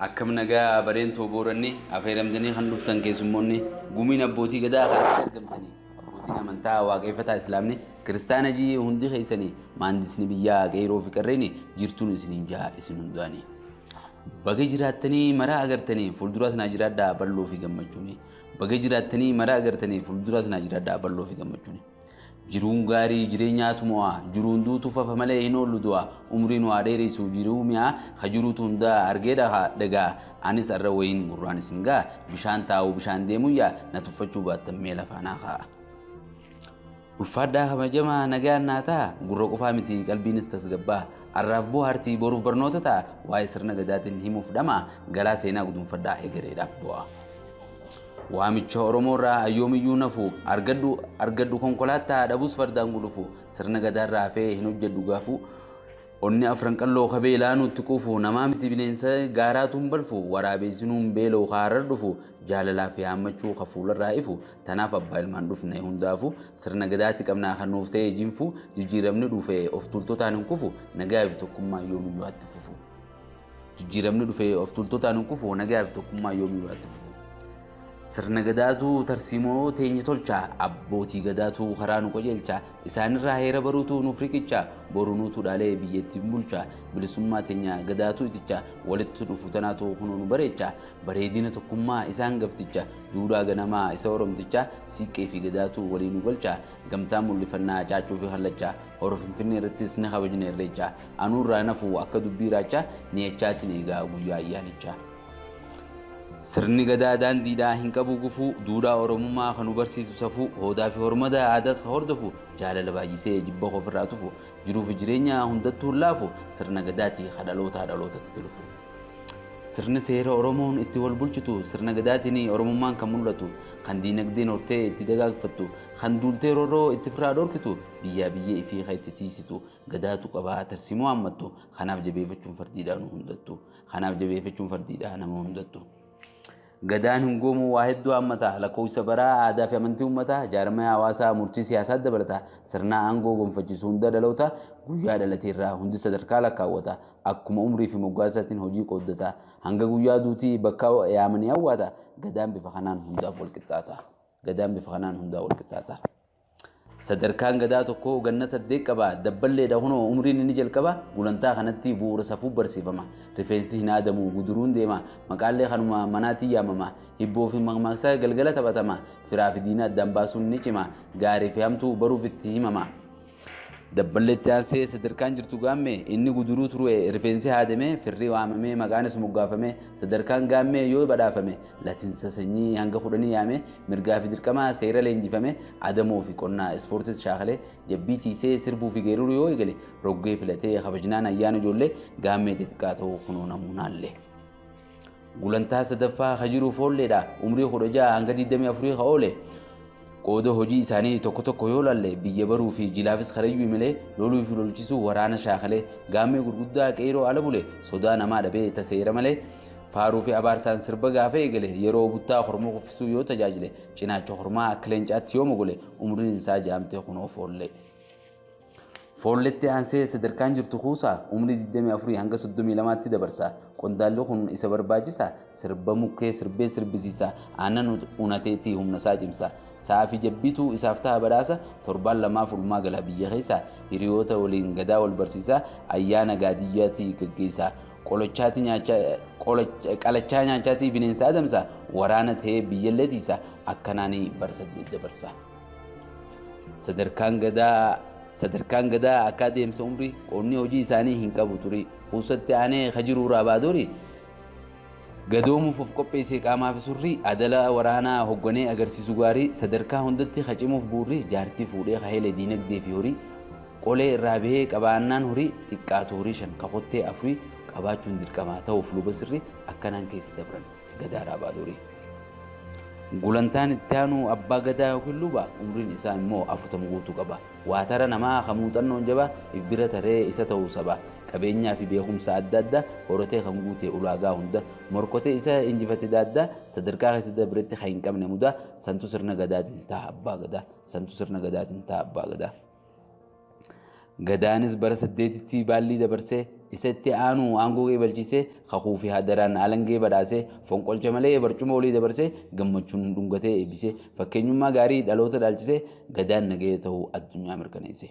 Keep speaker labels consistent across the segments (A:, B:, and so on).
A: akkam nagaa bareen too booranni afeeramtanii kan dhuftan keessummoonni gumiin abbootii gadaa kanatti argamtanii abbootiin amantaa waaqeffataa islaamni kiristaana jii hundi keessanii maandisni biyyaa qeeroo fi qarreeni jirtuun isiniin jaa isin hundaanii. Baga jiraattanii maraa agartanii fuulduraas naa jiraadhaa balloo fi gammachuuni. Baga jiraattanii maraa agartanii fuulduraas naa jiraadhaa balloo fi gammachuuni. Jiruun gaarii jireenyaatu mo'aa jiruun duutu fafa malee hin oollu du'a umrii nu haa dheeressu jiruu mi'aa ha jiruutu hundaa argee dhaha dhagaa anis arra wayiin gurraan isin ga'a bishaan taa'u bishaan deemuyyaa na tuffachuu baattan mee lafaa naa kaa'a. Ulfaadhaa kabajamaa nagaan naa ta'a gurra qofaa miti qalbiinis tasgabbaa'a arraaf bohaartii boruuf barnoota ta'a waa'ee sirna gadaatiin himuuf dhama'a garaa seenaa gudunfadhaa egereedhaaf bu'aa. Waamicha Oromoorraa ayyoomiyyuu nafu argadhu argadhu konkolaattaa dhabus fardaan gulufu sirna gadaarraa hafee hin hojjedhu gaafu onni afran qalloo kabeelaa nutti quufu namaa miti bineensa gaaraatu hin balfu waraabeessinuu hin beela'u kaarar dhufu jaalalaa fi haammachuu ka fuularraa ifu Tanaaf abbaa ilmaan dhufne hundaafu sirna gadaatti qabnaa kan nuuf ta'e jinfu jijjiiramni dhufe of tuultotaan hin kufu nagaa fi tokkummaa yoomiyyuu atti fufu. Jijjiiramni dhufe of tuultotaan hin kufu nagaa fi tokkummaa yoomiyyuu atti fufu. Sirna gadaatu tarsiimoo teenya tolcha abbootii gadaatu karaa nu qajeelcha isaanirraa heera baruutu nuuf riqicha boru nuutu dhaalee biyyattiin bulcha bilisummaa teenya gadaatu iticha walitti dhufu tanaatu kunoo nu bareecha bareedina tokkummaa isaan gafticha Duudhaa ganamaa isa Oromtichaa Siiqqee fi Gadaatu walii nu galcha Gamtaan mul'ifannaa Caaccuu fi Kallacha Hora Finfinnee irrattis ni kabajna Irreecha Anuu irraa hin hafu akka dubbii raacha Niyachaatiin eegaa guyyaa ayyaanichaa Sirni gadaa daandiidhaa hin qabu gufuu Duudhaa Oromummaa kan nu barsiisu safuu Hoodaa fi hormada aadaas kan hordofu Jaalala baay'isee jibba koo ofirraa tufu Jiruu fi jireenya hundattuu hin laafu Sirna gadaati ka dhalootaa dhalootatti lufu Sirni seera Oromoon itti wal bulchitu sirna gadaatiin Oromummaan kan mul'atu, kan diinagdeen hortee itti dagaagfattu, kan duultee roorroo itti firraa dhorkitu, biyyaa biyyee ifii kan itti tiisitu gadaatu qaba tarsiimoo hammattu. Kanaaf jabeeffachuun fardiidhaa nu hundattu. Kanaaf jabeeffachuun fardiidhaa nama hundattu. Gadaan hungoomuu waa hedduu haammata, lakkoofsa baraa, aadaa fi amantii uummataa, jaarmaya hawaasaa, murtii siyaasaa dabalata, sirna aangoo gonfachiisu hunda dhaloota guyyaa dhalate irraa hundi sadarkaa lakkaawwata, akkuma umrii fi moggaasaatiin hojii qooddata, hanga guyyaa duutii bakka yaamanii awwaata, Gadaan bifa kanaan hundaaf walqixxaata. Gadaan bifa kanaan hundaa walqixxaata. Sadarkaan Gadaa tokkoo ganna saddeet qaba. Dabballeedha kunoo umriin inni jalqaba. Gulantaa kanatti bu'uura safuu barsiifama. Rifeensi hin haadamu, guduruun deema. Maqaallee kanuma manaatiin yaamama. Hibboo fi makmaaksa galgala taphatama. Firaa fi diina addaan baasuun ni cima. Gaarii fi hamtuu baruuf itti himama. Dabballeetti aansee sadarkaan jirtu gaammee inni guduruu turue rifeensi haadamee firri waamamee maqaanis moggaafamee sadarkaan gaammee yoo badhaafame latinsa sanyii hanga kudhanii yaame mirgaa fi dirqama seera leenjifame adamoo fi qonnaa ispoortis shaakalee jabbii tiisee sirbuu fi geeruruu yoo eegale roggee filatee kabajnaan ayyaana ijoollee gaammee xixiqqaa ta'uu kunoo namuunaallee. Gulantaa sadaffaa ka jiru foolleedha umrii kudha ja'a hanga digdamii afurii ka oole Qooda hojii isaanii tokko tokko yoo laalle biyya baruu fi jilaafis karayyuu imalee loluu fi lolchisuu waraana shaakalee gaammee gurguddaa qeeyroo ala bule sodaa namaa dhabee ta seera malee faaruu fi abaarsaan sirba gaafa eegale yeroo buttaa korma kuffisuu yoo tajaajile cinaacha kormaa akka leencaatti yoo mogole umriin isaa jaamte kunoo foollee. Foolleetti aansee sadarkaan jirtu kuusaa umrii 24 hanga 32tti dabarsa. Qondaalli kun isa barbaachisa sirba mukkee sirbee sirbisiisa. Aannan unateetii humnasaa cimsa. Sa'aa fi jabbiitu isaaf ta'a badhaasa. Torbaan lamaaf ulmaa gala biyya keessa. Hiriyoota waliin gadaa wal barsiisa. Ayyaana gaadiyyaati gaggeessa. Qolochaati nyaachaa qolocha- qalachaa nyaachaatii bineensa adamsa. Waraana ta'ee biyyallee tiisa. Akkanaanii bara saddeet dabarsa. Sadarkaan gadaa sadarkaan gadaa akka adeemsa umrii qoonni hojii isaanii hin qabu ture. Kuusatti aanee ka jiru Raabaadoori gadoomuuf of qopheessee qaamaa fi surrii adala waraanaa hogganee agarsiisu gaarii sadarkaa hundatti ka cimuuf buurri jaartii fuudhee ka hele diinagdee fi horii qolee irraa bahee qabaannaan horii xiqqaatu horii shan ka kottee afurii qabaachuun dirqamaa ta'uuf luba sirrii akkanaan keessa dabran. Gadaa Raabaa Durii. Gulantaan itti aanu abbaa gadaa yookiin luba umriin isaa immoo afurtama guutuu qaba. Waatara namaa kan muuxannoon jaba if bira taree isa ta'uu saba qabeenyaa fi beekumsa adda adda horatee kan guute ulaagaa hunda morkotee isa injifate daadda sadarkaa keessa dabretti kan hin qabne muda santu sirna gadaatiin ta'a abbaa gadaa santu sirna gadaatiin ta'a abbaa gadaa. Gadaanis bara saddeetitti baallii dabarsee isa itti aanu aangoo qeebalchiisee kakuu fi hadaraan alangee badhaasee fonqolcha malee barcuma olii dabarsee gammachuun dhungatee eebbisee fakkeenyummaa gaarii dhaloota dhaalchisee gadaan nagaya ta'uu addunyaa mirkaneesse.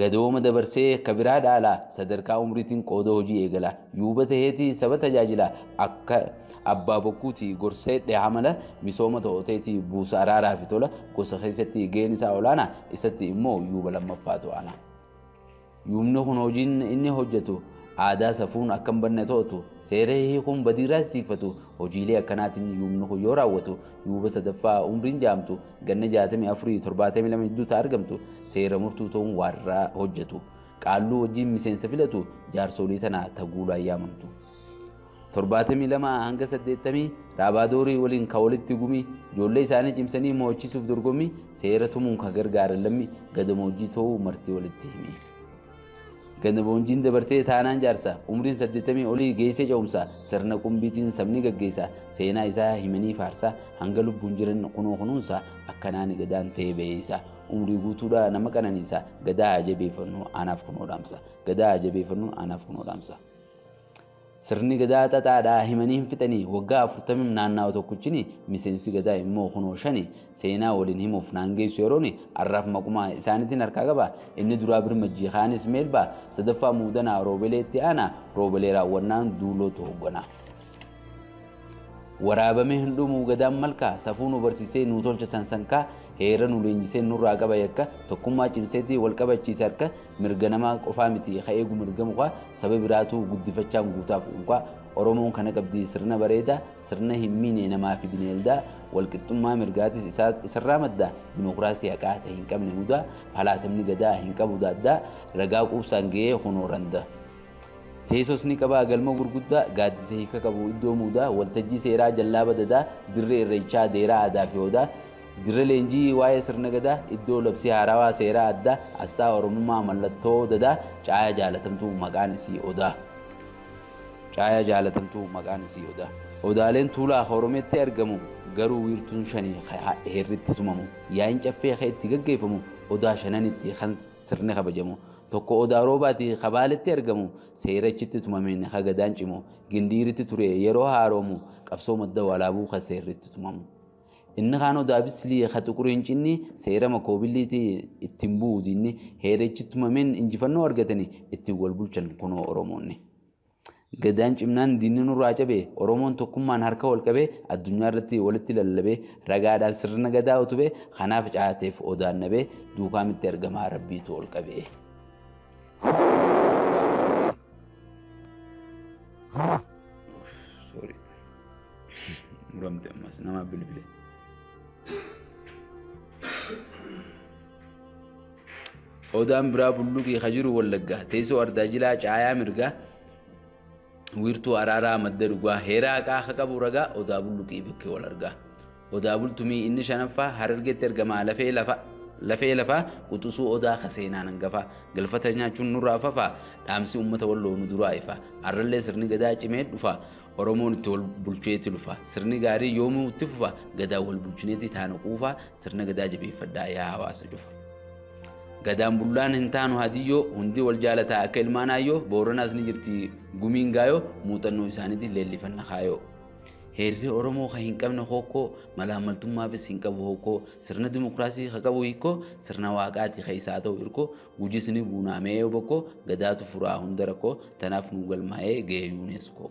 A: Gadooma dabarsee akka biraa dhaala sadarkaa umriitiin qooda hojii eegala yuuba taheeti saba tajaajila akka Abbaa bokkuuti gorsa hidhe hamala misooma to'oteeti buusa araaraa fi tola gosa keessatti gaheen isaa olaanaa isatti immoo yuuba lammaffaatu ana. Yuubni kun hojiin inni hojjetu aadaa safuun akka hin banne to'atu seera hiikuun badiirraas tiikfatu hojiilee akkanaatiin yuubni kun yoo raawwatu yuuba sadaffaa umriin jaamtu ganna jaatamii afurii torbaatamii lama jidduu ta'a argamtu seera murtuu ta'uun waarraa hojjetu qaalluu wajjin miseensa filatu jaarsolii tana taguulaa yaamamtu. 72 hanga 80 Raabaadoorii waliin ka walitti gumii ijoollee isaanii cimsanii mo'achiisuuf dorgommii seera tumuun ka gargaaran lammi gadamoojjii ta'uu marti walitti himi. Gadamoojjiin dabartee taanaan jaarsa umriin 80 olii geessee ce'umsa sirna qumbiitiin sabni gaggeessa seenaa isaa himanii faarsa hanga lubbuun jiran kunoo kunuunsa akkanaan gadaan ta'ee ba'eessa umrii guutuudhaa nama qananiisa gadaa jabeeffannu anaaf kunoo dhaamsa gadaa jabeeffannu anaaf kunoo dhaamsa. Sirni gadaa xaxaadhaa himanii hin fixanii waggaa afurtamim naannaa'u tokkichini miseensi gadaa immoo kunoo shani seenaa waliin himuuf naan geessu yerooni arraaf maqumaa isaanitiin harkaa qaba inni duraa birmajjii kaanis meelbaa sadaffaa muudanaa roobelee itti aanaa roobelee raawwannaan duulootu hoogganaa. Waraabamee hin dhumuu gadaan malkaa safuu nu barsiisee nuu tolcha sansankaa heera nu leenjisee nurraa qaba yakka tokkummaa cimseetii wal qabachiise harka mirga namaa qofaa miti ka eegu mirga mukaa saba biraatuu guddifachaan guutaaf unkaa Oromoon kana qabdii sirna bareedaa sirna hin miine namaa fi bineeldaa walqixxummaa mirgaatis isarraa maddaa dimokiraasii haqaa ta'e hin qabne mudaa falaasamni gadaa hin qabu daaddaa ragaa quubsaan ga'ee kunoo randaa. Teesoos ni qaba galma gurguddaa gaaddisa hiika qabu iddoo muudaa waltajjii seeraa jallaa badadaa dirree irreechaa deeraa aadaa fi odaa dirree leenjii waa'ee sirna gadaa iddoo labsii haarawaa seeraa addaa asxaa oromummaa mallattoo dadaa caayaa jaalatamtuu maqaan isii odaa caayaa jaalatamtuu maqaan isii odaa odaaleen tuulaa oromeetti argamu garuu wiirtuun shanii heerritti tumamu yaa'iin caffee kee itti gaggeeffamu odaa shananitti kan Sirni kabajamu tokko Odaa Roobaati ka Baaletti argamu seera achitti tumameen ka Gadaan cimu Gindiiritti ture yeroo haaroomu qabsoo Madda Walaabuu ka seerri itti tumamu. Inni kaan Odaa Bislii ka Xuquriin cinni seera Makoobilliiti ittiin bu'u diinni heera ichitti tumameen injifannoo argatani ittiin wal bulchan kunoo Oromoonni. Gadaan cimnaan diinni nurraa cabe, Oromoon tokkummaan harka wal qabee addunyaa irratti walitti lallabee ragaadhaan sirna Gadaa utube, kanaaf caateef Odaan nabee duukaa mitti ergamaa Rabbiitu ol qabee. Sorry. Muramte ammas nama bilbile. Odaan biraa bulluqii ka jiru wallaggaa teessoo ardaa jilaa caayaa mirgaa wiirtuu araaraa madda dhugaa heeraa haqaa ka qabu ragaa odaa bulluqii bakkee wal argaa odaa bultumii inni shanaffaa harargeetti ergamaa lafee lafa lafee lafaa quxusuu odaa ka seenaan hangafaa galfata nyaachuun nurraa fafaa dhaamsi uummata walloo nu duraa ifaa arrallee sirni gadaa cimee dhufaa Oromoon itti wal bulcheetti lufa sirni gaarii yoomuu itti fufa gadaa wal bulchineetti taana quufaa Sirna gadaa jabeeffadhaa yaa hawaasa cufa. Gadaan bullaan hin taanu hadiyyoo hundi wal jaalataa akka ilmaan aayyoo booranaas ni jirti gumiin gaayoo muuxannoo isaaniitiin leellifanna kaayoo. Heerri Oromoo kan hin qabne hokkoo malaammaltummaafis hin qabu hokkoo sirna dimokiraasii kan qabu hikkoo sirna waaqaati kan isaa ta'u irkoo gujis ni buunaamee yoo bokkoo gadaatu furaa hunda rakkoo tanaaf nu galmaa'ee ga'ee yuuneeskoo.